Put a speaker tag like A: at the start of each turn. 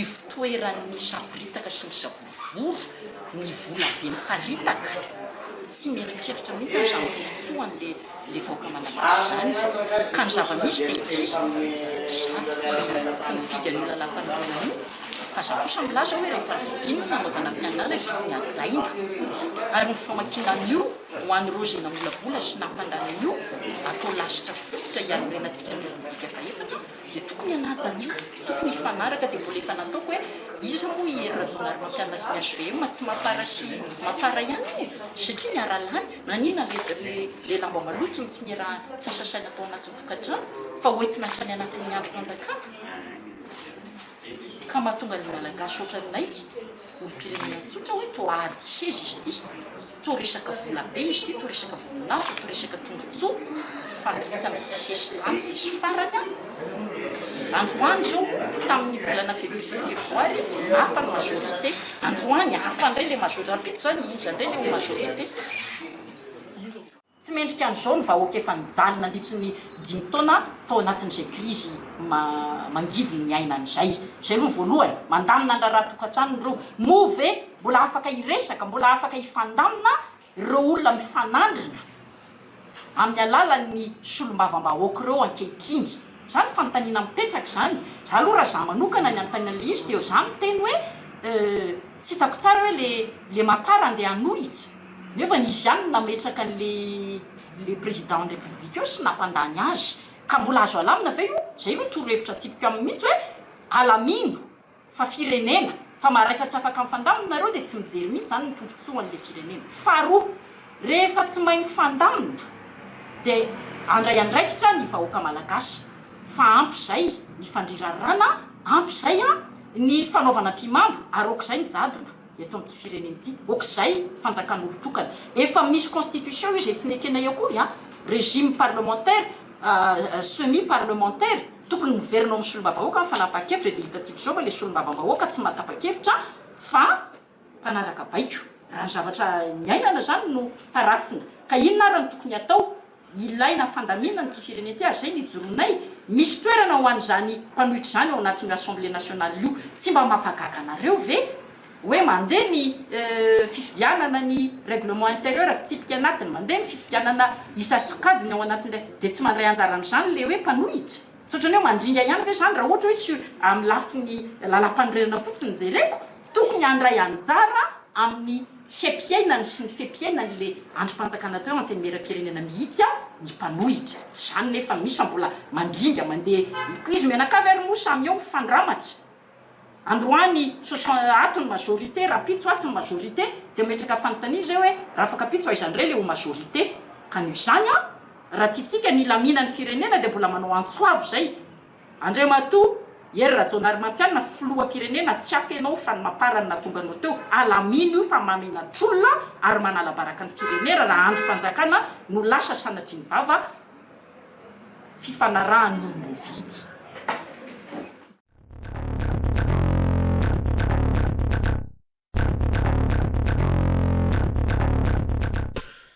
A: ivotoeran'ny savoritaka sy ny savorovoro ny vola be miparitaka tsy mieritreritra mihitsy aho izany fihitsoany dia Ilay vahoaka malagasy izany izao ka ny zava-misy dia tsy zato foana ihany tsy mifidy an'io lalam-panombohana io fa za kosa milaza hoe rehefa vidiana ny hanaovana fianarana dia hajaina ary ny famakiana an'io ho an'ireo izay namolavola sy nampandany an'io atao lasitra fototra hianorenantsika ny repoblika fahefatra dia tokony hanaja ny tokony hifanaraka dia mbola efa nataoko hoe iza moa i Hery Rajaonarimampianina sy ny hvm tsy mafara sy mafara ihany io satria niara-lany nanina ilay lamba maloto ny tsy niaraha tsy nisasaina tao anatin'ny tokantrano fa hoentina hatrany anatin'ny androm-panjakana Ka mahatonga ny Malagasy ohatran'ny naiky olompirenena tsotra hoe toa ady seza izy ity, toa resaka vola be izy ity, toa resaka voninahitra, toa resaka tombotsoa, faritana tsy sesitany tsisy farany an! Androany izao, tamin'ny volana février, febroary, hafa ny majorité, androany hafa indray ilay majorité, rahampitso izany iza indray ilay ho majorité? Tsy mendrika an'izao ny vahoaka efa nijaly nandritry ny dimy taona tao anatin'izay krizy mangidin'ny iainana izay. Izay aloha voalohany. Mandamina ny raharaha tokantrano ireo. Moa ve mbola afaka hiresaka, mbola afaka hifandamina ireo olona mifanandrina amin'ny alalan'ny solombavambahoaka ireo ankehitriny? Izany fanontaniana mipetraka izany. Izaho aloha raha izaho manokana ny hanontaniana an'ilay izy dia izaho miteny hoe tsy hitako tsara hoe ilay mapar andeha hanohitra. Nefa nisy ihany ny nametraka an'le le président ny république eo sy nampandany azy. Ka mbola azo alamina ve io? Zay no torohevitra atsipiko aminy mintsy hoe alamino fa firenena fa maha rehefa tsy afaka mifandamina nareo de tsy mijery mintsy zany ny tombotsoan le firenena. Faharoa rehefa tsy mahay mifandamina de andray andraikitra ny vahoaka malagasy fa ampy zay ny fandrirarrana ampy zay a ny fanaovana ampimambo ary aok'izay ny jadona. eto amin'ity firenena ity, ok'izay fanjakan'olo-tokana, efa misy constitution io, izay tsy nekena eo akory an, régime parlementaire, semi parlementaire, tokony miverina ao amin'ny solombavambahoaka ny fanapahan-kevitra, dia hitantsika izao fa ilay solombavambahoaka tsy matapa-kevitra fa mpanaraka baiko, raha ny zavatra niainana izany no tarafina, ka inona ary no tokony hatao? Ilaina fandaminana ity firenena ity ary izay no ijoroanay, misy toerana ho an'izany mpanohitra izany ao anatin'io assemblée nationale io, tsy mba mampagaga anareo ve hoe mandeha ny fifidianana ny règlement intérieur fitsipika anatiny, mandeha ny fifidianana isa sokajiny ao anatin'ilay dia tsy mandray anjara amin'izany ilay hoe mpanohitra? Tsy ohatran'ny hoe mandringa ihany ve izany raha ohatra hoe sur amin'ny lafiny lalàmpanorenana fotsiny jereko? Tokony handray anjara amin'ny fe-piainany sy ny fe-piainany le andrim-panjakana teo antenimieram-pirenena mihitsy ny mpanohitra. Tsy izany nefa misy fa mbola mandringa mandeha ko izy mianakavy ary moa samy eo mifandramatra. Androany soixante ato ny majorité, rahampitso atsy ny majorité dia mametraka fanontaniana izay hoe rafakapitso aiza indray le ho majorité? Ka noho izany an! Raha tiantsika ny hilaminan'ny firenena dia mbola manao antso avo izay Andriamatoa Hery Rajaonarimampianina filoham-pirenena tsy hafa ianao fa ny mapar ny nahatonga anao teo alamino io fa mahamenatr'olona ary manalabaraka ny firenera raha andrim-panjakana no lasa sanatrian'ny vava fifanarahan'olom-boavidy.